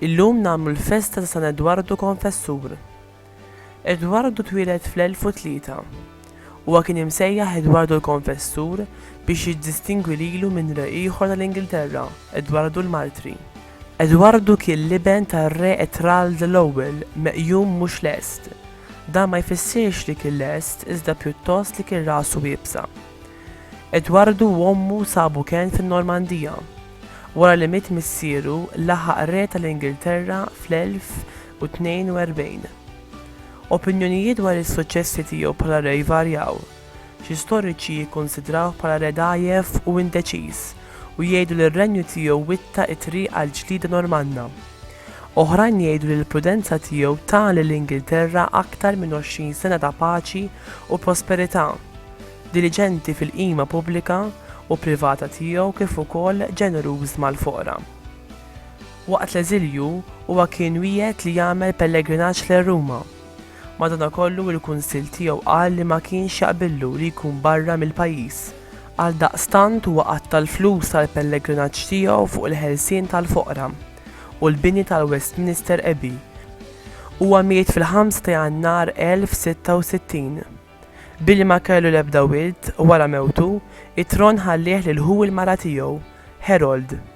Illum nagħmlu l-festa ta' San Edwardu Konfessur. Edwardu twieled fl-1003. Huwa kien imsejjaħ Edwardu l-Konfessur biex jiddistingwi lilu minn re ieħor tal-Ingilterra, Edwardu l-Martri. Edwardu kien l-iben tar-Re Etrald l-Ewwel, meqjum mhux lest. Dan ma jfissirx li kien lest iżda pjuttost li kien rasu iebsa. Edwardu u ommu sabu kenn fin-Normandija. Wara li miet missieru, laħaq Re tal-Ingilterra fl-1042. Opinjonijiet dwar is-suċċessi tiegħu bħala Re jvarjaw. Xi storiċi jikkunsidrawh bħala re dgħajjef u indeċiż u jgħidu li r-renju tiegħu witta' t-triq għall-ġlieda Normanna. Oħrajn jgħidu li l-prudenza tiegħu ta lill-Ingilterra aktar minn għoxrin sena ta' paċi u prosperità, diliġenti fil-qima pubblika u privata tiegħu kif ukoll ġeneruż mal-foqra. Waqt l-eżilju, huwa kien wiegħed li jagħmel pellegrinaġġ lejn Ruma. Madanakollu il-Kunsill tiegħu qal li ma kienx jaqbillu li jkun barra mill-pajjiż. Għaldaqstant huwa qatta' l-flus tal-pellegrinaġġ tiegħu fuq il-ħelsien tal-foqra u l-bini tal-Westminster Abbey. Huwa miet fil-5 ta' Jannar 1066. Billi ma kellu l-ebda wild, wara mewtu, it-tron ħallieh lil ħu l-mara tiegħu, Harold.